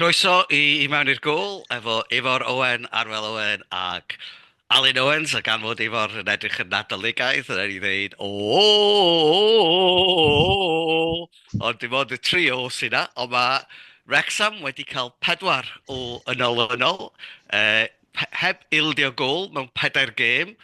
Croeso i I Mewn i'r Gôl efo Ifor Owen, Arwel Owen ac Alun Owens a gan fod Ifor yn edrych yn Nadoligaidd rhaid i ddeud oooooooooo ond dim ond y tri o sy 'na ond mae Wrecsam wedi cael pedwar o yn olynol yy heb ildio gôl mewn pedair gêm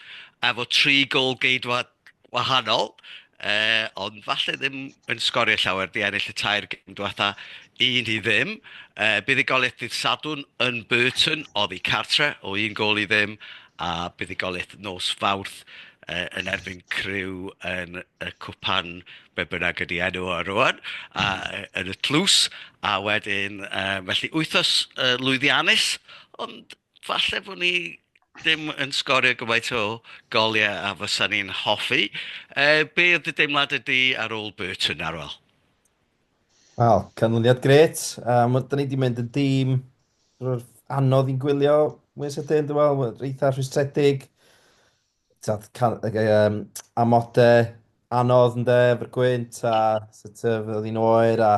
efo tri gôl geidwad wahanol, yy ond falle ddim yn sgorio llawer 'di ennill y tair gêm diwetha' 1-0. Yy buddugoliaeth ddydd Sadwrn yn Burton oddi cartre' o 1-0 a buddugoliaeth nos Fawrth yy yn erbyn Crewe yn y cwpan be bynnag ydy enw o rŵan, a yy yn y tlws, a wedyn yy felly wythnos yy lwyddiannus, ond falle bod ni ddim yn sgorio gymaint o goliau a fysa ni'n hoffi. Yy be oedd dy deimlad ydy ar ôl Burton, Arwel? Wel, canlyniad gret. Um, da ni wedi mynd yn dîm anodd i'n gwylio mwy sydyn, dwi'n meddwl, eitha rhwystredig. Taf, can, um, amode anodd yn de, efo'r gwynt a sut oedd hi'n oer a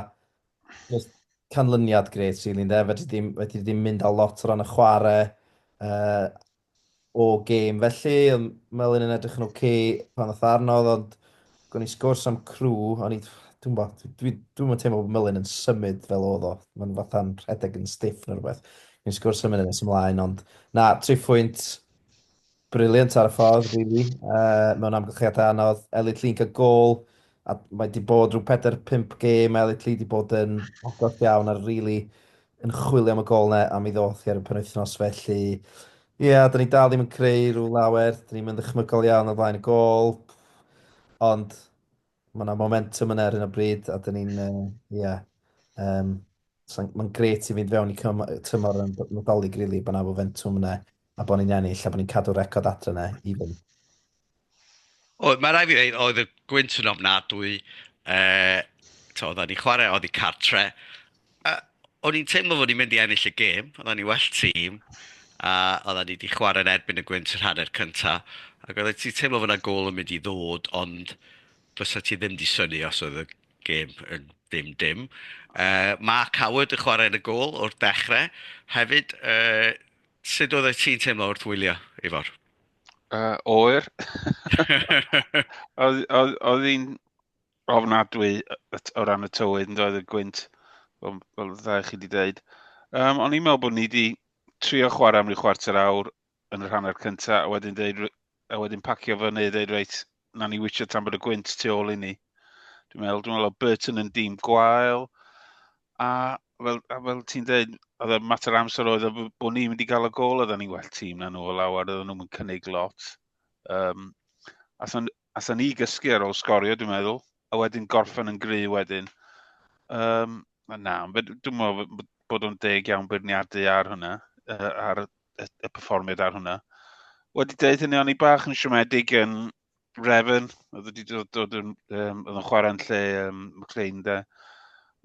just canlyniad gret sy'n really, de. Fedri ddim, fedri ddim mynd â lot o ran y chwarae uh, o gêm. Felly, Melin yn edrych yn oce okay pan oedd arnodd, ond gwn i sgwrs am crw, ond i, dwi'n bo, dwi'n dwi, dwi teimlo bod Melin yn symud fel oedd o. Mae'n fatha'n rhedeg yn stiff neu rhywbeth. Gwn i sgwrs am hynny nes ymlaen, ond na, tri phwynt Brilliant ar y ffordd, rili. Uh, mewn amgylchiadau anodd. Elliot Lee yn cael gol. A mae wedi bod rhyw 4-5 gêm. Elliot Lee wedi bod yn agos iawn ar rili yn chwilio am y gol ne, a mi ddoth hi ar y penwythnos felly. Ie, yeah, da ni dal ddim yn creu rhyw lawer. Da ni'n mynd ddychmygol iawn o flaen y gol. Ond mae yna momentum yna ar un o bryd. A da ni'n, ie, uh, yeah, um, mae'n gret i fynd fewn i tymor yn Nadolig, rili, really, bod yna momentum yna. A bod ni'n ennill a bod ni'n cadw record adre yna i fynd. Oedd, mae rhaid fi ddeud, oedd y gwynt yn ofnadwy. Uh, to, oedden ni chwarae oedd i cartre. Uh, o'n i'n teimlo fod ni'n mynd i ennill y gêm. Oedden ni well tîm. A oedden ni wedi chwarae yn erbyn y gwynt yr hanner cyntaf. Ac oedden ti'n teimlo fod yna gol yn mynd i ddod, ond fysa ti ddim di syni os oedd y gêm yn dim dim. Uh, Mark Howard yn chwarae yn y gol o'r dechrau. Hefyd, uh, Sut oeddet ti'n teimlo wrth wylio, Ifor? Uh, oer. oedd hi'n ofnadwy o ran y tywydd yn doedd y gwynt, fel, fel dda chi wedi dweud. Um, o'n i'n meddwl bod ni wedi trio chwarae am ryw chwarter awr yn y rhan o'r cyntaf, a wedyn, dweud, a wedyn pacio fyny, dweud reit, na ni wytio tan bod y gwynt tu ôl i ni. Dwi'n meddwl, dwi'n meddwl o Burton yn dîm gwael, a fel, a fel ti'n dweud, oedd y mater amser oedd bod ni'n mynd i gael y gol, oedden ni'n well tîm na nhw o lawer, oedden nhw'n cynnig lot. Um, Athon, athon ni gysgu ar ôl sgorio, dwi'n meddwl, a wedyn gorffen yn gry wedyn. Um, na, dwi'n meddwl bod o'n deg iawn beirniadu ar hwnna, uh, ar y, y performiad ar hwnna. Wedi dweud hynny, o'n i bach yn siomedig yn Refn, oedd wedi dod, dod yn, um, oedd yn chwarae'n lle um, McLean da.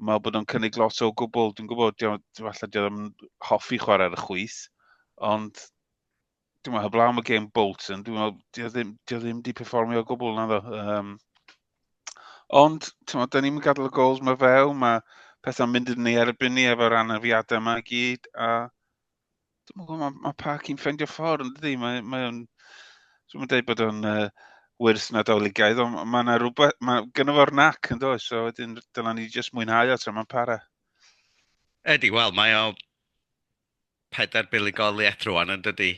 Mae bod o'n cynnig lot o gwbl, dwi'n gwybod, falle dwi ddim hoffi chwarae ar y chwyth, ond dwi'n meddwl, heblaw am y game Bolton, dwi'n meddwl, dwi ddim, dwi ddim di performio o gwbl na ddo. Um, ond, ti'n meddwl, da ni'n gadael y gols mae few, mae pethau'n mynd yn ei erbyn ni efo'r anafiadau yma i gyd, a Dwi'n gwybod, mae, mae pa cyn ffeindio ffordd yn dydi, mae, mae o'n... Dwi'n dweud bod o'n uh, wyrth nadoligaidd, ond mae yna rhywbeth, mae gynnu fo'r nac yn dod, so wedyn dylen ni jyst mwynhau o tra mae'n para. Ydy, wel, mae o pedair buligoliaeth rwan yn dydy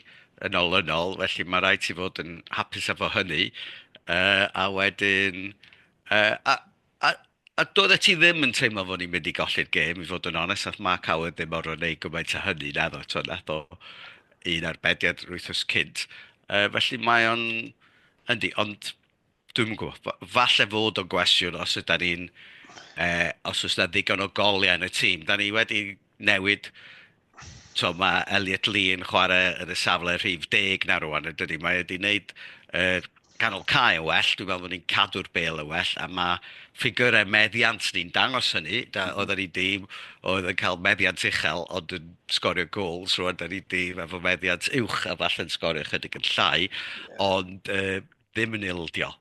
yn olynol, felly mae rhaid ti fod yn hapus efo hynny. Uh, a wedyn, uh, a, a, A doeddet ti ddim yn teimlo fod ni'n mynd i golli'r gêm, i fod yn onest, wnaeth Mark Howard ddim orfod gwneud gymaint â hynny, naddo. Tibod, wnaeth o un arbediad yr wythnos cynt. Yy, felly mae o'n... Yndi, ond dwi'm yn gwybod. Fa- Falle fod o'n gwestiwn os yda ni'n... eh, os oes 'na ddigon o goliau yn y tîm. Da ni wedi newid Tibod, mae Elliot Lee yn chwarae yn y safle rhif deg 'na rŵan yn dydi? Mae e 'di wneud y canol cae yn well, dwi'n meddwl bod ni'n cadw'r bêl yn well a mae ffigurau meddiant ni'n dangos hynny. Da, mhm. oedden ni 'di... oedd yn cael meddiant uchel ond yn sgorio gols, rŵan da ni 'di efo meddiant uwch a falle'n sgorio chydig yn llai, ond uh, ddim yn ildio.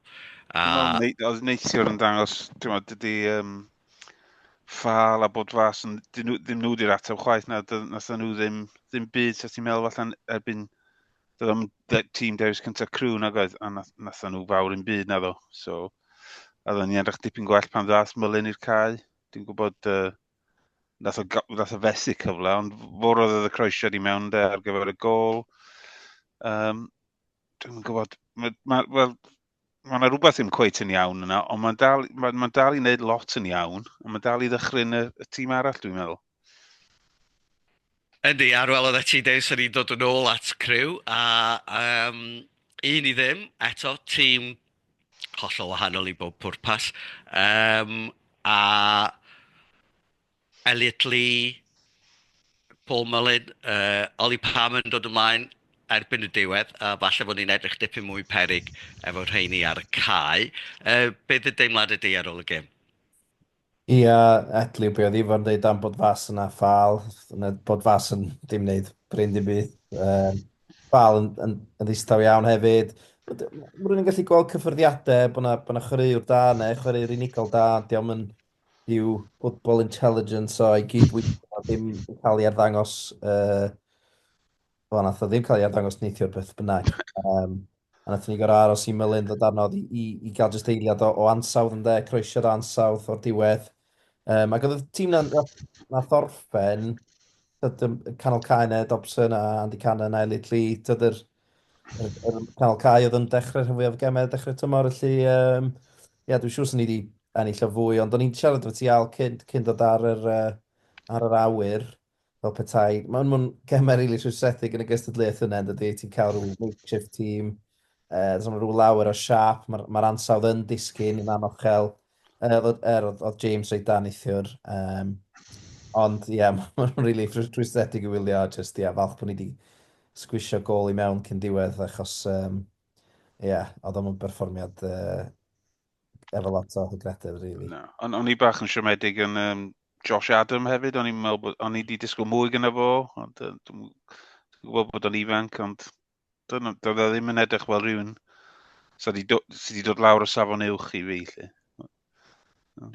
A... Wel, neithiwr yn dangos, ti'n meddwl, dydy, um, ffal a bod fas, ond dyn nhw, ddim nhw wedi'r ateb chwaith na, nath nhw ddim, ddim byd, sef ti'n meddwl allan erbyn, dod am tîm dewis cyntaf crew na goedd, a nath, nath nhw fawr yn byd na ddo. So, a ddo ni anrach dipyn gwell pan ddath mylun i'r cae. Dwi'n gwybod, uh, nath, o, nath o fesu cyfle, ond fawr oedd y croesiad i mewn de ar gyfer y gol. Um, dwi'n gwybod, mae, ma, well, mae yna rhywbeth ddim cweith yn iawn yna, ond mae'n dal, ma, ma dal i wneud lot yn iawn, ond mae'n dal i ddychryn y, y tîm arall, dwi'n meddwl. Yndi, ar ôl oedd ti dweud, sy'n ni'n dod yn ôl at criw, a um, un i ddim, eto, tîm hollol wahanol i bob pwrpas. Um, a Elliot Lee, Paul Mullin, uh, Ollie Palmer yn dod ymlaen erbyn y diwedd, a falle bod ni'n edrych dipyn mwy perig efo rheini ar y cae. Uh, beth y deimlad ydy ar ôl y gêm? Ia, yeah, Etley, be oedd Ifo'n dweud am bod fas yna ffal, yna bod fas yn dim wneud bryn dim byd. Um, ffal yn, yn, yn ddistaw iawn hefyd. Rwy'n yn gallu gweld cyffyrddiadau bod yna, bod yna chwaraewr da neu chwaraewr unigol da, ond diolch yn Dyw football intelligence o ei gyd-weithio ddim yn cael ei arddangos... Uh, o, nath o ddim cael ei arddangos neithiwr beth bynnag. Um, a nath ni gorau aros i Mylun ddod arno i, i, i gael jyst eiliad o, o ansawdd yn dde, croesiad ansawdd o'r diwedd. Um, ac oedd y tîm na, na thorffen, canol cae neu Dobson a Andy Cannon a Elliot Lee, tyd yr, yr, yr canol cae oedd yn dechrau rhan fwyaf o gemau, dechrau tymor, felly um, Ia, dwi'n siŵr 'sen ni 'di ennill o fwy, ond o'n i'n siarad efo ti Al cyn, cyn dod ar yr, uh, ar yr awyr, fel petai. Mae'n ma gemau rili really rhwystredig yn y gystadleuaeth yna, dydy, ti'n cael rhyw makeshift team, uh, does rhyw lawer o siap, mae'r ma ansawdd yn disgyn yn anochel. Uh, oedd, er, oedd, oedd James reit dan neithiwr, um, ond ie, yeah, mae'n ma rili really rhwystredig i wylio, just ie, yeah, falch bod ni wedi sgwisio gol i mewn cyn diwedd, achos um, Ie, oedd o'n berfformiad uh, efo lot o hygrededd, really. No. O'n, on i bach yn siomedig yn um, Josh Adam hefyd, o'n i'n meddwl bod, o'n i wedi disgwyl mwy gyda fo, ond uh, dwi'n gwybod bod o'n ifanc, ond doedd e ddim yn edrych fel rhywun sydd wedi dod lawr o safon uwch i fi, lle.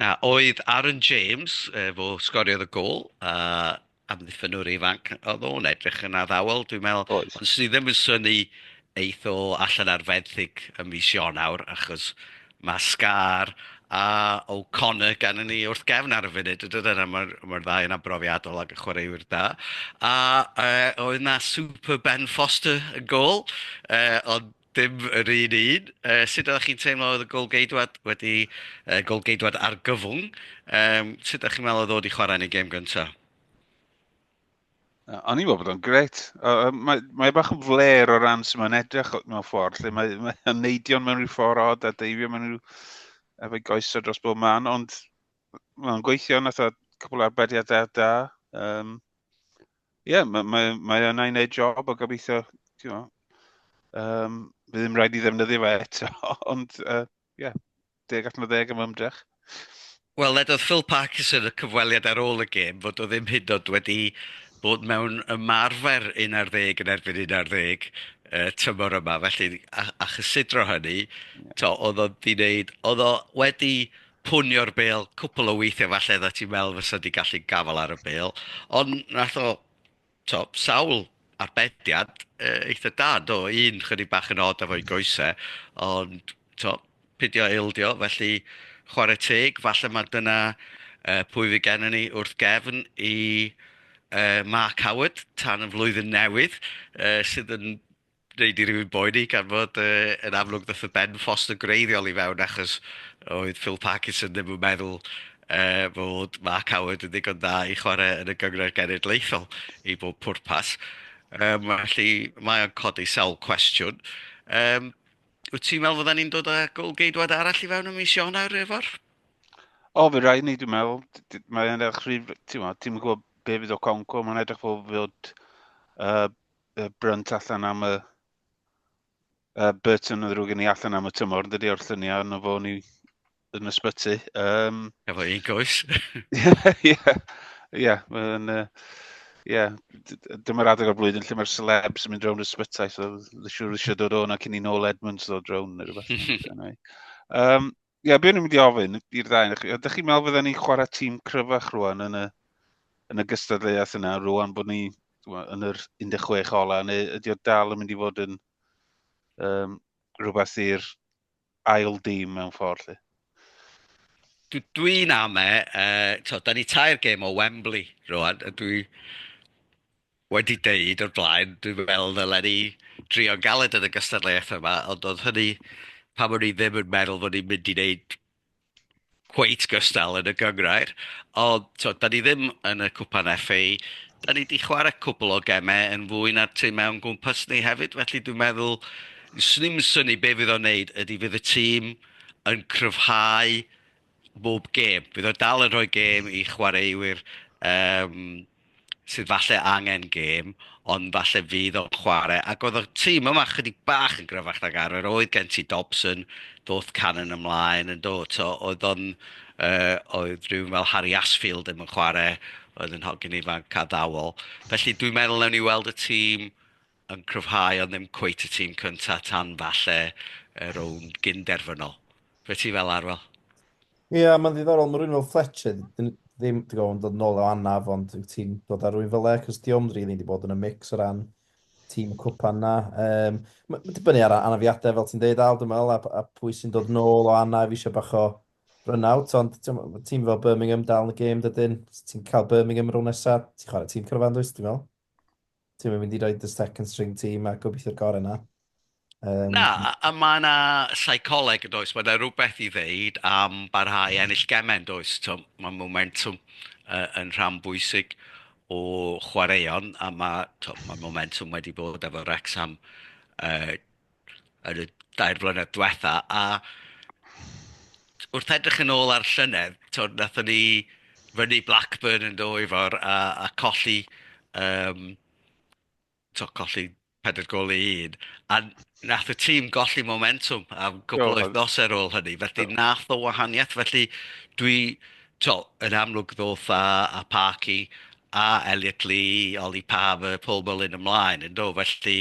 Na, oedd Aaron James, yy, fo sgoriodd y gol, a amddiffynwr ifanc oedd o'n edrych yn addawol, dwi'n meddwl. Oedd. Ond sydd ddim yn syni eith o allan ar fenthyg ym mis Ionawr, achos mae Scar a O'Connor gan ni wrth gefn ar y funud, ydyn nhw, a mae'r ma ddau yna brofiadol ac y chwaraewyr da. A uh, oedd na Super Ben Foster yn gol, uh, ond Dim yr un un. Yy sut oeddach chi'n teimlo oedd y gôl-geidwad wedi yy gôl-geidwad argyfwng? Yym sut dach chi'n meddwl oedd o wedi chwarae yn ei gêm gynta'? Yy o'n i'n meddwl bod o'n gret. Yy mae mae e bach yn fler o ran sy'n mae'n edrych mewn ffordd lle mae mae o'n neidio mewn rhyw ffordd od a deifio mewn rhyw efo'i goesau dros bob man ond mae'n gweithio nath o cwpl o arbediadau da. Yym Ie, yeah, mae, mae, mae yna i wneud job o gobeithio, ti'n know, um, bydd ddim rhaid i ddefnyddio fe eto, ond ie, uh, yeah, deg allan o ddeg am ymdrech. Wel, ledodd Phil Parkinson y cyfweliad ar ôl y gêm fod o ddim hyd oed wedi bod mewn ymarfer 11 yn erbyn 11 uh, tymor yma, felly a, a chysidro hynny, yeah. to, oedd o wedi wneud, oedd o wedi punio'r bêl cwpl o weithiau falle oeddet ti'n meddwl fysa di gallu gafael ar y bêl, ond nath o, to, sawl arbediad uh, eitha da, do, un chydig bach yn od efo'i goesau, ond to, pidio eildio, felly chwarae teg, falle mae dyna uh, pwy fi gennym ni wrth gefn i uh, Mark Howard tan y flwyddyn newydd, uh, sydd yn wneud i rywun boeni gan fod uh, yn amlwg ddoth y Ben Foster greiddiol i fewn achos oedd Phil Parkinson ddim yn meddwl uh, fod Mark Howard yn ddigon dda i chwarae yn y gyngor genedlaethol i bob pwrpas. Um, felly mae o'n codi sawl cwestiwn. Um, wyt ti'n meddwl fydden ni'n dod â gol geidwad arall i fewn y mis Ionawr efo'r? O, fe rai ni, dwi'n meddwl. Mae'n edrych rhyw... Ti'n meddwl, ti'n gwybod be fydd o Conco, mae'n edrych fel fod uh, y brynt allan am y uh, Burton yn ddrwg i ni allan am y tymor, dydy o'r lluniau yn fo ni yn ysbyty. Um, Efo un goes. Ie, ie, mae'n... Ie, dyma'r adeg o'r blwyddyn lle mae'r celebs yn mynd rownd y sbytai, so siwr eisiau dod o'n ac i ni nôl Edmunds ddod rownd neu rhywbeth. um, Ie, yeah, beth ni'n mynd i ofyn i'r ddau o'ch chi? Ydych chi'n meddwl fydden ni'n chwarae tîm cryfach rwan yn y, yn y gystadleuaeth yna, rwan bod ni yn yr 16 ola, neu ydy o dal yn mynd i fod yn um, rhywbeth i'r ail dîm mewn ffordd? Lle? dwi'n ame, uh, to, da ni tair gêm o Wembley rwan, a dwi, wedi deud o'r blaen, dwi'n meddwl ddylen ni drio'n galed yn y gystadleuaeth yma, ond oedd hynny pam o'n i ddim yn meddwl fod ni'n mynd i wneud cweit gystal yn y gynghrair. Ond, tibod, da ni ddim yn y Cwpan FA, da ni 'di chwarae cwpl o gemau yn fwy na'r timau o'n gwmpas ni hefyd, felly dwi'n meddwl, 'swn i'm yn synnu be fydd o'n wneud, ydy fydd y tîm yn cryfhau bob gêm. Bydd o dal yn rhoi gêm i chwaraewyr um, sydd falle angen gêm, ond falle fydd o'n chwarae. Ac oedd y tîm yma chydig bach yn gryfach nag arfer. Oedd gen ti Dobson, doth Cannon ymlaen yn dod. So, oedd o'n, uh, oedd rhywun fel Harry Asfield ddim yn chwarae, oedd yn hogyn ifanc a ddawol. Felly dwi'n meddwl newn ni weld y tîm yn cryfhau ond ddim cweit y tîm cyntaf tan falle y rownd gyn-derfynol. Be ti fel arwel? Ie, yeah, mae'n ddiddorol, mae rhywun fel Fletcher ddim wedi gofyn dod nôl o anaf, ond ti'n dod ar rhywun fel e, cos di ond rili wedi bod yn y mix o ran tîm y cwpan na. Um, mae'n dibynnu ar anafiadau, fel ti'n deud, Aldo Mel, a, a pwy sy'n dod nôl o anaf eisiau bach o run-out, ond tîm fel Birmingham dal yn y gêm, dydyn, ti'n cael Birmingham rhwng nesaf, ti'n chwarae tîm cyrfan, dwi'n meddwl? Ti'n mynd i roi dy second string ti, mae gobeithio'r gorau na. Um, na, a mae yna seicoleg yn does, mae yna rhywbeth i ddeud am barhau ennill gemau yn does. Mae momentum uh, yn rhan bwysig o chwaraeon a mae, mae momentum wedi bod efo Wrexham uh, yn y dair blynedd diwetha', a wrth edrych yn ôl ar llynedd, tibod, wnaethon ni fynnu Blackburn yn do Ifor a a colli yym tibod colli pedwar gôl i un, a wnaeth y tîm golli momentwm am cwpl o wythnosau ar ôl hynny, felly wnaeth o wahaniaeth. Felly dwi... Tibod, yn amlwg ddoth a a Parky a Elliot Lee, Ollie Paver, Paul Mullin ymlaen, yn do? Felly,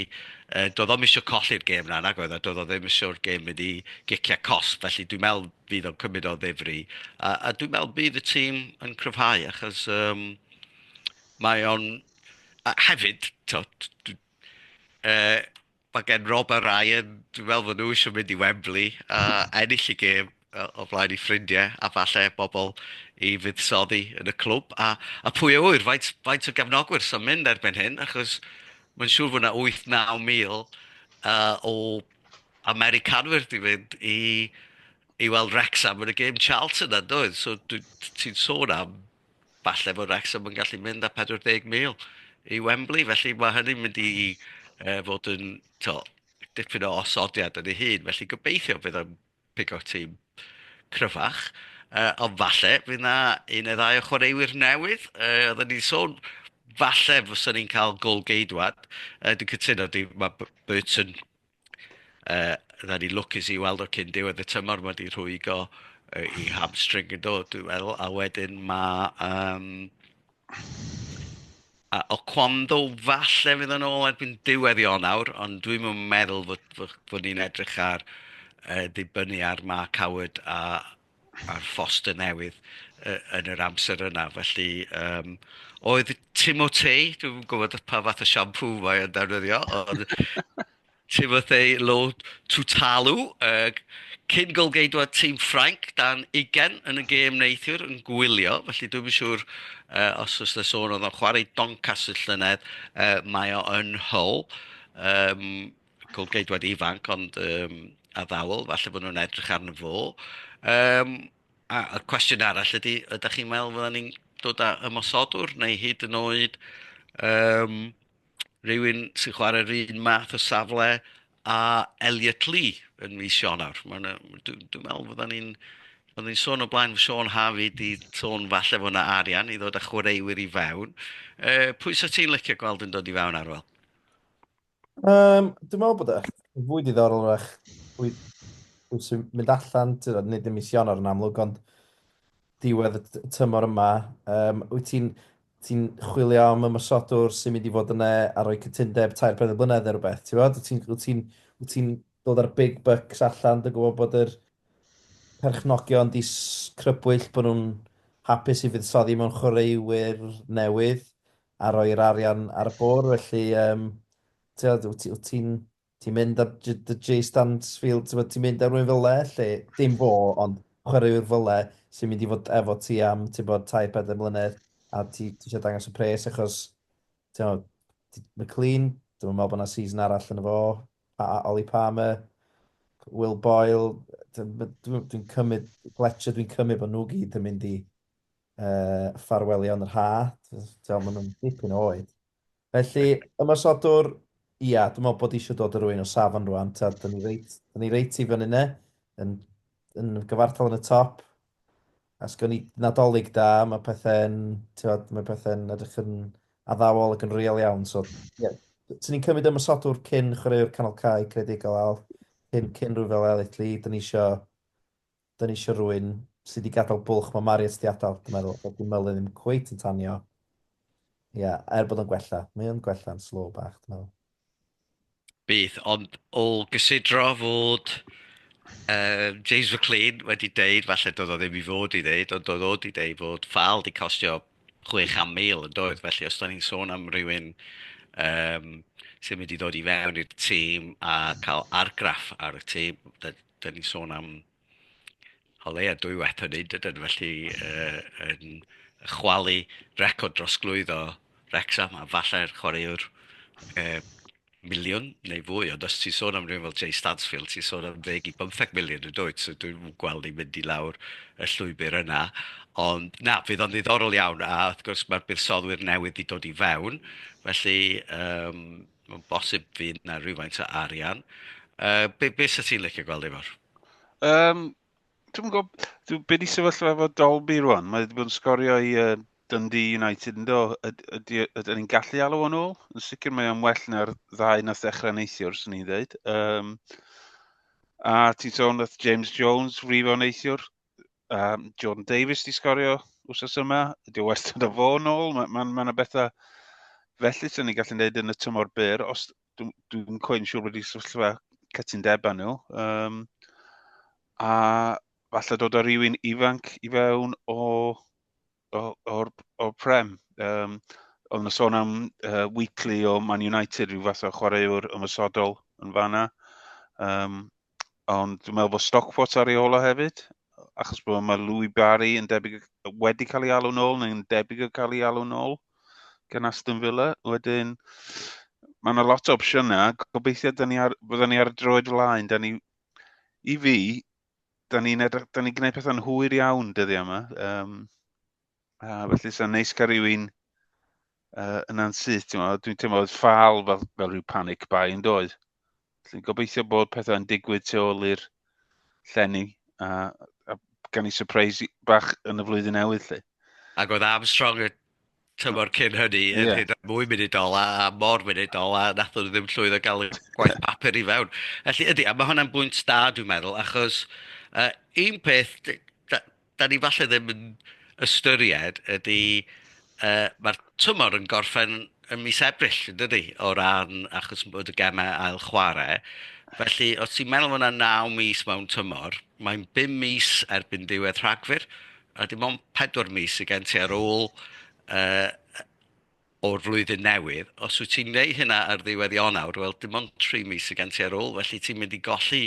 yy, doedd o'm isio colli'r gêm 'na, nag oedd, a doedd o ddim isio'r gêm mynd i giciau cosb, felly dwi'n meddwl fydd o'n cymryd o ddifri. A a dwi'n meddwl bydd y tîm yn cryfhau achos yym mae o'n... A hefyd, tibod, dw- yy... Mae gen Rob a Ryan, dwi'n meddwl fod nhw eisiau mynd i Wembley a ennill y gêm o flaen eu ffrindiau a falle bobl i fuddsoddi yn y clwb. A a pwy a ŵyr, faint faint o gefnogwyr sy'n mynd erbyn hyn, achos mae'n siŵr fod 'na 8, 9 mil uh, o Americanwyr 'di mynd i i weld Wrexham yn y gêm Charlton yna, doedd? So ti'n sôn am Falle bod Wrexham yn gallu mynd â 40,000 i Wembley, felly mae hynny'n mynd i uh, fod yn to, dipyn o osodiad yn ei hun, felly gobeithio bydd o'n pigo tîm cryfach. Uh, ond falle, fydd yna un neu ddau o chwaraewyr newydd. Uh, oedden ni'n sôn, falle fysa ni'n cael gol geidwad. Uh, dwi'n cytuno, di, mae Burton Yy, ni lwcus i weld o cyn diwedd y tymor, mae 'di rhwygo yy, 'i hamstring yn do, dwi'n meddwl, a wedyn mae yym a Oquendo falle fydd yn ôl erbyn diwedd Ionawr, ond dwi'm yn meddwl fod fod fod ni'n edrych ar yy dibynnu ar Mark Howard a ar Foster Newydd yy yn yr amser yna, felly yym oedd Timotei, dwi'm yn gwybod pa fath o siampŵ mae o'n defnyddio, ond Timotei Lo Tutalo, yy cyn golgeidwad tîm Ffrainc dan ugain yn y gêm neithiwr yn gwylio, felly dwi'm yn siŵr yy os oes 'na sôn oedd o'n chwarae i Doncaster llynedd, yy mae o yn Hull yym. Colgeidwad ifanc ond yym addawl, falle bod nhw'n edrych arno fo. Yym a y cwestiwn arall ydy, ydych chi'n meddwl fyddan ni'n dod â ymosodwr neu hyd yn oed yym rhywun sy'n chwarae'r un math o safle a Elliot Lee yn mis Ionawr? Mae'n yy dwi dwi'n meddwl fyddan ni'n fyddan ni'n sôn o blaen, Siôn Harvey 'di sôn falle fod 'na arian i ddod â chwaraewyr i fewn. Yy pwy 'sa ti'n licio gweld yn dod i fewn Arwel? Um, dwi'n meddwl bod e fwy diddorol rach pwy, pwy sy'n mynd allan, ti'n gwbod, nid yn mis Ionawr yn amlwg, ond diwedd y t- tymor yma. Um, wyt ti'n ti chwilio am ymwysodwr sy'n mynd i fod yna a rhoi cytundeb tair pethau blynedd neu rhywbeth, ti'n gwybod? Wyt ti'n wyt ti'n- wyt ti'n dod ar big bucks allan, dwi'n gwybod bod yr perchnogion di s- crybwyll bod nhw'n hapus i fuddsoddi mewn chwaraewyr newydd. a rhoi'r arian ar y bwrdd, felly um, ti'n ti, ti mynd ar dy Jay Stansfield, ti'n ti mynd ar rwy'n fyle, lle dim fo, ond chwaraewr fyle sy'n mynd i fod efo ti am, ti'n bod, tai pedau mlynedd, a ti, ti eisiau dangos y pres, achos, ti'n bod, McLean, dwi'n meddwl bod yna season arall yn efo, pa, Ollie Palmer, Will Boyle, dwi'n cymryd, Fletcher, dwi'n cymryd bod nhw gyd yn mynd i uh, ffarwelio yn yr ha, ti'n maen nhw'n dipyn oed. Felly, ymwysodwr, ia, dwi'n meddwl bod eisiau dod o rwy'n o safon rwan, ta, dyn ni reit, dyn ni reit i fyny ne, yn, yn gyfartal yn y top, a sgwn i nadolig da, mae pethau'n, mae pethau'n edrych yn addawol ac yn real iawn, so, ie, yeah. Tyn ni'n cymryd ymwysodwr cyn chwaraewr canol cae credigol al, cyn, cyn rhyw fel elitli, dyn ni eisiau 'Da ni isio rhywun sy 'di gadael bwlch ma' Mariet 'di adal, dwi'n meddwl, bod dim meli ddim cweit yn tanio. Ia, er bod o'n gwella, mae o'n gwella'n slow bach, dwi'n meddwl. Bydd, ond o gysidro fod yym James McClean wedi deud, falle doedd o ddim i fod i ddeud, ond doedd o 'di deud bod Fal 'di costio chwe chant mil, yn doedd? Felly os 'da ni'n sôn am rywun yym sy'n mynd i ddod i fewn i'r tîm a cael argraff ar y tîm, 'da ni'n sôn am o leia' dwywaith hynny, dydan, felly yy yn chwalu record drosglwyddo Wrecsam a falle'r chwaraewr yy miliwn neu fwy, ond os ti'n sôn am rywun fel Jay Stansfield, ti'n sôn am ddeg i bymtheg miliwn yn dwyt, so dwi'm yn gweld ni'n mynd i lawr y llwybr yna. Ond na, fydd o'n ddiddorol iawn, a wrth gwrs mae'r buddsoddiwyr newydd 'di dod i fewn, felly yym Mae'n bosib fydd na rhywfaint o arian. Uh, be, be sydd ti'n licio gweld efo'r? Um, dwi'n gwybod, dwi, be di sefyllfa efo Dolby rwan? Mae wedi bod yn sgorio i uh, Dundee United yn do. Ydyn ni'n gallu alw o'n ôl? Yn sicr mae o'n well na'r ddau nath ddechrau neithiwr, sy'n ni'n dweud. Um, a ti'n sôn nath James Jones rifo neithiwr. um, John Davies di sgorio wrth yma, ydy o wastad o fo yn ôl, mae'n ma, ma, ma bethau felly sy'n ni'n gallu gwneud yn y tymor byr, os dwi'n dwi, dwi cwy'n siŵr wedi sefyllfa cytundebau nhw. Um, a falle dod o rywun ifanc i fewn o, o, o'r, o prem. Um, oedd yna sôn am uh, weekly o Man United, rhyw fath o chwaraewr ymwysodol yn fanna. Um, ond dwi'n meddwl bod Stockport ar ei ola hefyd, achos bod mae Louis Barry yn debyg wedi cael ei alw'n ôl, neu'n debyg o cael ei alw'n ôl gan Aston Villa. Wedyn, mae yna lot o opsiynau, gobeithio da ni ar, bydden ni ar y droed flaen, da ni, i fi, da ni'n ni gwneud pethau'n hwyr iawn dyddiau yma. Um, A felly sa'n neis cael rhywun uh, yna'n syth, ti'n meddwl, dwi'n teimlo oedd ffal fel, fel rhyw panic bai yn doedd. Felly gobeithio bod pethau'n digwydd tu ôl i'r llenni a, a gan i surprise bach yn y flwyddyn newydd lle. Ac oedd Armstrong y tymor cyn hynny yn yeah. hyd mwy munudol a, a mor munudol a nath nhw ddim llwyddo gael y gwaith papur i fewn. Felly ydy, a mae hwnna'n bwynt da dwi'n meddwl, achos uh, un peth, dan ni falle ddim yn ystyried ydy, uh, mae'r tymor yn gorffen yn mis Ebrill, yn dydy, o ran achos bod y gemau ail chwarae. Felly, os ti'n meddwl bod yna 9 mis mewn tymor, mae'n 5 mis erbyn diwedd rhagfyr, a dim ond 4 mis i gen ti ar ôl uh, o'r flwyddyn newydd, os wyt ti'n gwneud hynna ar ddiwedd Ionawr, wel dim ond tri mis sy' gen ti ar ôl, felly ti'n mynd i golli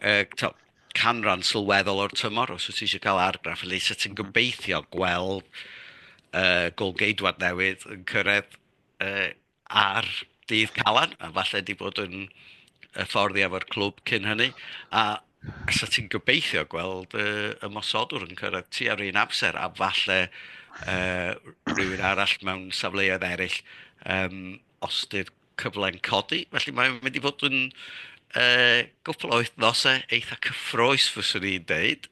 yy tibod canran sylweddol o'r tymor os wyt ti isie cael argraff felly 'set ti'n gobeithio gweld yy Gôl-geidwad newydd yn cyrraedd yy ar Dydd Calan a falle 'di bod yn hyfforddi efo'r clwb cyn hynny a Allet ti'n gobeithio gweld y ymosodwr yn cyrraedd tua'r un amser a falle rhywun arall mewn safleoedd eraill os ydy'r cyfle'n codi. Felly mae'n mynd i fod yn gwpl o wythnosau eitha cyffroes fyswn i'n deud.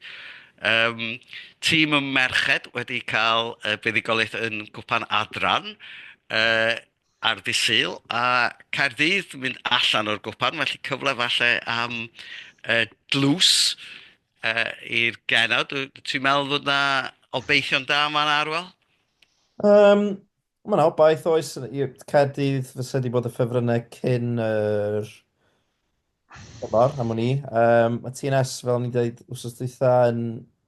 Tîm y merched wedi cael buddugoliaeth yn Gwpan Adran. ar ddydd Sul, a Caerdydd yn mynd allan o'r gwpan, felly cyfle falle am uh, dlws uh, i'r genau. Ti'n meddwl fod yna obeithion da yma na Arwel? Um, Mae yna obaith oes i'r Caerdydd fysa wedi bod y ffefrynnau cyn yr Diolch Mor, am wn i. Um, mae TNS, fel ni'n dweud, wrth dweitha yn,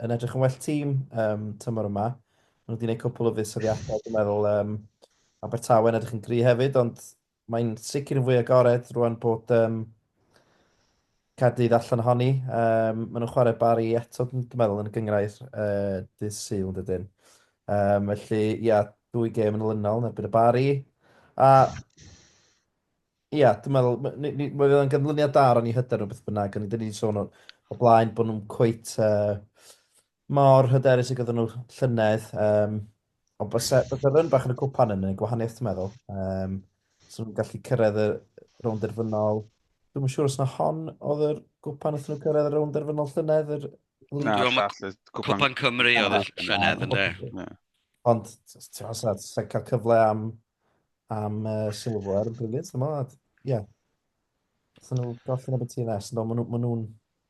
yn edrych yn well tîm um, tymor yma. Mae nhw wedi gwneud cwpl o fuddsoddiadau, dwi'n meddwl, um, Abertawe yn edrych yn gri hefyd, ond mae'n sicr yn fwy agored rwan bod um, Cadydd allan ohoni. Um, maen nhw'n chwarae bari eto, dwi'n meddwl, yn y gyngrair uh, dydd syl yn dydyn. Um, felly, ia, dwy gêm yn olynol yn erbyn y bari. A Ia, dwi'n meddwl, m- ni- ni- mae o'n ganlyniad da ar ni hyder nhw beth bynnag, ond dyn ni wedi sôn o, o blaen bod nhw'n cweit uh, mor hyderus y gyda nhw llynedd. Um, ond bysa, bysa ryn bach yn y cwpan yn y gwahaniaeth, ti'n meddwl. Um, so nhw'n gallu cyrraedd y rownd derfynol. Dwi'n siŵr os na hon oedd yr gwpan wrth nhw cyrraedd y rownd derfynol llynedd. Yr... Na, Dwi'n meddwl llall, y cwpan. Cwpan Cymru oedd y llynedd yn dweud. Ond, ti'n meddwl, sa'n cael cyfle am am uh, silver, brilliant, dyma, ie. Ydyn nhw golli neb y TNS, no, maen nhw'n ma nhw,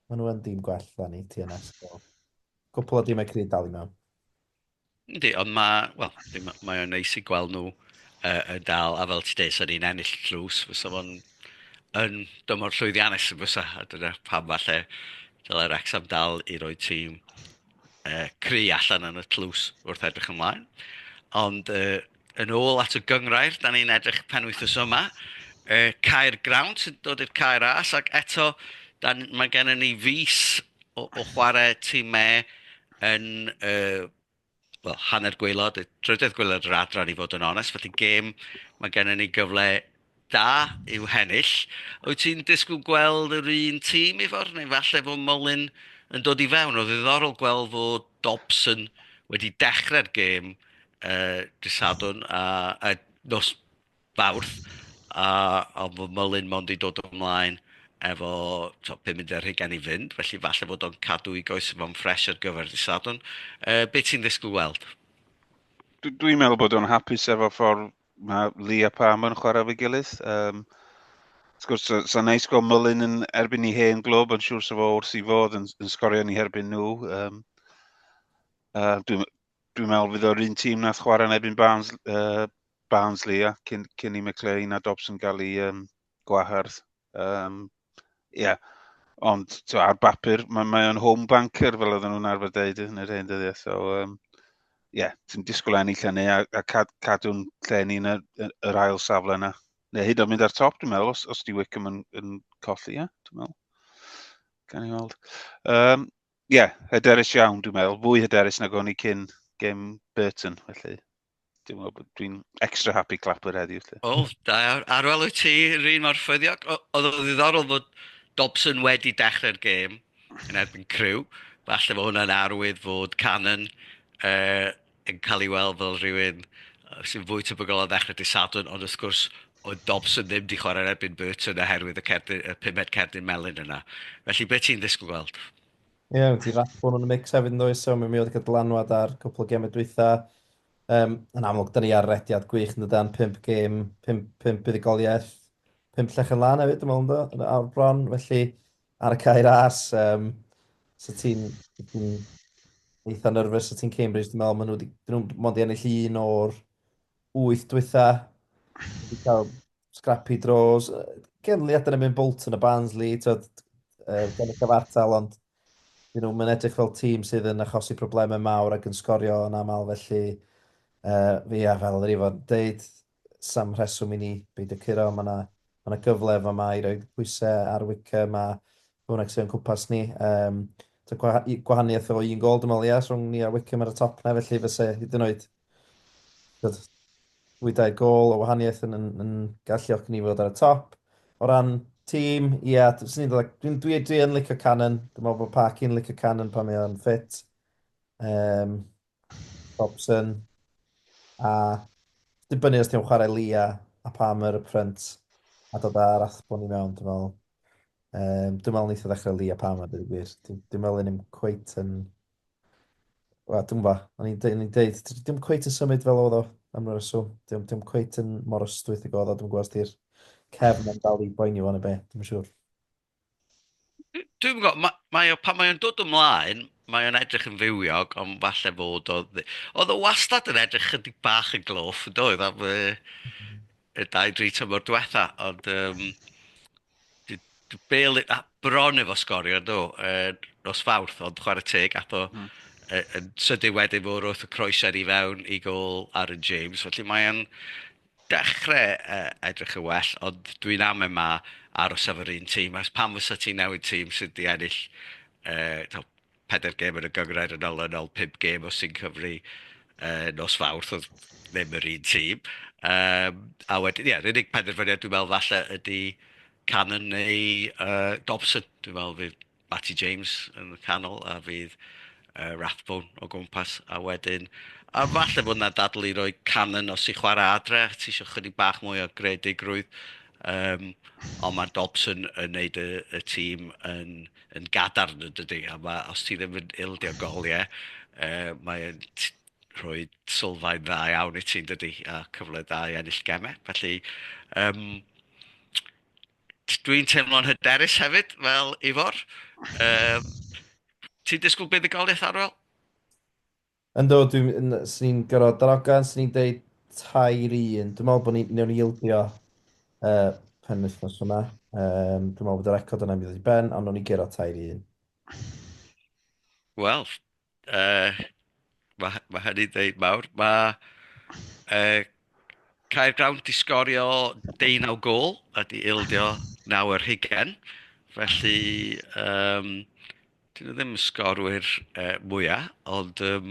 ma nhw yn dîm gwell da ni, TNS. So. Cwpl o dîmau cryd dal i mewn. Ydy, ond mae, wel, mae, mae o'n neis i gweld nhw uh, yn dal, a fel ti dweud, sy'n ni'n ennill tlws, fysa fo'n yn dymor llwyddiannus yn fysa, a dyna pam falle dylai Wrexham dal i roi tîm uh, cry allan yn y tlws wrth edrych ymlaen. Ond uh, yn ôl at y gyngrair, da ni'n edrych pen wythnos yma, y cair grawn sy'n dod i'r cair as, ac eto, da, mae gennym ni fus o, o chwarae tîmau yn uh, well, hanner gweilod, drydedd gweilod yr adran i fod yn onest, felly gêm, mae gennym ni gyfle da yw hennill. Wyt ti'n disgwyl gweld yr un tîm Ifor, neu falle fod Mullin yn dod i fewn? Oedd ddiddorol gweld fod Dobson wedi dechrau'r gêm uh, disadwn a, a nos fawrth, a, a fod Mullin mond i dod ymlaen efo to, 50 rhigen i fynd, felly falle fod o'n cadw i goes fo'n ffres ar gyfer disadwn. Uh, beth ti'n ddisgwyl weld? Dwi'n meddwl bod o'n hapus efo ffordd Mae Lee a Pam yn chwarae fe gilydd. Um, Wrth gwrs, sa'n sa neis gweld Mullin yn erbyn i hen glwb, yn siŵr sef o wrth i fod yn, yn sgorio ni herbyn nhw. Um, uh, Dwi'n dwi meddwl fydd o'r un tîm nath chwarae yn erbyn Barnes, uh, Barnsley a cyn, cyn i McLean a Dobson gael ei, um, gwahardd. Um, yeah. Ond twa, ar bapur, mae, mae o'n home banker fel oedden nhw'n arfer dweud yn yr hen dyddiau. So, um, yeah, ti'n disgwyl enni lle ni a, a cad, cadw'n lle ni yn yr, yr ail safle yna. Neu hyd o'n mynd ar top, dwi'n meddwl, os, os di Wickham yn, yn colli, ie, yeah, dwi'n meddwl. Gan i weld. Um, yeah, hyderus iawn, dwi'n meddwl. Fwy hyderus nag o'n i cyn gem Burton, felly. Dwi'n meddwl bod dwi'n extra happy clapper heddiw. Lle. O, da iawn. Ar ôl wyt ti, rhywun mor ffyddiog. Oedd o ddiddorol fod Dobson wedi dechrau'r gêm yn erbyn Crew. Falle bod hwnna'n arwydd fod Cannon uh, yn cael ei weld fel rhywun sy'n fwy tebygol o ddechrau dy Sadwrn, ond wrth gwrs o Dobson ddim di chwarae erbyn Burton oherwydd y, cerdyn, y pumed cerdyn melyn yna. Felly, beth ti'n ddisgwyl gweld? Ie, mae ti Rathbone yn y mix hefyd yn dweud, so mi oedd y dylanwad ar cwpl o gemau dwytha. Um, yn amlwg, da ni ar rediad gwych yn dydan, 5 gêm, 5, 5 buddigoliaeth, 5 llech yn lan hefyd, ymwneud yn yn awr bron, felly ar y cair as, um, so ti'n ti eitha nerfus, so ti'n Cambridge, dwi'n meddwl, maen nhw wedi, dyn nhw mond i ennill un o'r 8 dwytha, wedi cael Scrappy draws. Genli adyn yn mynd Bolton a Barnsley, tyd, uh, gen y cyfartal, ond you know, mae'n edrych fel tîm sydd yn achosi problemau mawr ac yn sgorio yn aml, felly uh, fi a fel yr ifo'n deud, sam rheswm i ni beidio curo, mae yna ma, na gyfle efo yma i roi pwysau ar wicker, mae hwnna sy'n cwmpas ni. Um, gwahaniaeth o un gol, dwi'n meddwl, yes, rhwng ni a Wickham ar y top na, felly fyse hyd yn oed Tyd, fwydau gol o wahaniaeth yn, yn, yn galluogi ni fod ar y top. O ran tîm, ie, yeah, dwi'n dwi, dwi, dwi yn licio Cannon. Dwi'n meddwl bod Parky yn licio Cannon pan mae o'n ffit. Um, Robson. A dibynnu os ti'n chwarae Lia a Palmer y print a dod ar athbwn i mewn, dwi'n meddwl. Um, dwi'n meddwl neitha ddechrau Lia Palmer, dwi'n gwir. Dwi'n meddwl yn i'm cweit yn Wel, dwi'n gwybod, o'n i'n deud, deud, dim cweit yn symud fel oedd o am y reswm. Dim, dim cweit yn mor ystwyth i godd o, dwi'n gwybod di'r cefn yn dal i boeni fo neu be, dim yn siŵr. Dwi'n gwybod, mae, mae o, pan mae o'n dod ymlaen, mae o'n edrych yn fywiog, ond falle fod o... Oedd o wastad yn edrych chydig bach yn gloff, yn doedd? Am, uh, y dau dri tymor diwetha', ond yym d- d- Bale a- bron efo sgorio do, yy nos Fawrth, ond chwarae teg ath o hmm. yy yn sydyn wedyn fo wrth y croeser i fewn i gol Aaron James, felly mae o'n dechrau yy edrych yn well, ond dwi'n amen 'ma aros efo'r un tîm, achos pam fysa ti'n newid tîm sydd 'di ennill yy taw pedair gêm yn y gyngrair yn olynol, pum gêm o Sing Cymru uh, nos Fawrth oedd ddim yr un tîm. Um, a wedyn, ie, yeah, yr unig penderfyniad dwi'n meddwl falle ydy Cannon neu uh, Dobson. Dwi'n meddwl fydd Matty James yn y canol a fydd uh, Rathbone o gwmpas. A wedyn, a falle bod yna dadl i roi Cannon os i chwarae adre, ti eisiau chydig bach mwy o gredigrwydd. Um, ond mae Dobson yn neud y, y tîm yn yn gadarn yn dydi, a ma' os ti ddim yn ildio-gol ie yy mae e'n t- rhoi sylfaen dda iawn i ti yn dydi, a cyfle da i ennill gemau. Felly yym t- dwi'n teimlo'n hyderus hefyd fel Ifor. Yym ti'n disgwyl buddugoliaeth Arwel? Yndw, dwi yn... 'swn i'n gorfod darogan, 'swn i'n deud tair i un. Dwi'n meddwl bod ni, wnawn ni ildio y penwythnos yma. Yym, dwi'n meddwl bod y record yna yn mynd i ddod i ben, ond wnawn ni guro tair i un. Wel, yy, ma' hy- ma' hynny'n ddeud mawr. Ma' yy Caergrawnt 'di sgorio deunaw gôl a 'di ildio naw ar hugain, felly yym... 'Dyn nhw ddim yn sgorwyr yy mwya, ond yym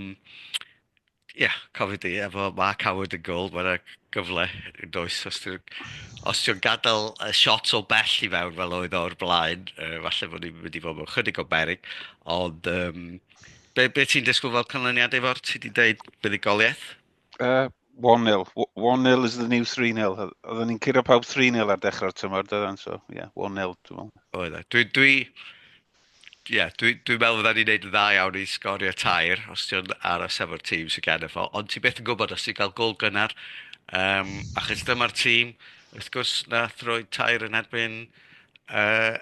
ia, cofio di efo Mark Howard yn gôl, ma' 'na gyfle yn does os ti'n... os ti'n gadael y shot o bell i fewn fel oedd o o'r blaen, yy falle bod ni'n mynd i fod mewn chydig o beryg, ond yym be be ti'n disgwyl fel canlyniad Ifor? Ti 'di deud buddugoliaeth? Uh, 1-0. 1-0 is the new 3-0. Oedden ni'n curo pawb 3-0 ar dechrau'r tymor, dydan, so, ie, yeah, 1-0, dwi'n meddwl. Oedd e. Dwi, dwi, ie, yeah, dwi'n dwi meddwl fydda ni'n neud yn dda iawn i sgorio tair os ti'n ar y sefyr tîm sy'n gen efo, ond ti beth yn gwybod os ti'n cael gol gynnar, um, achos dyma'r tîm, wrth gwrs, na throi tair yn erbyn uh,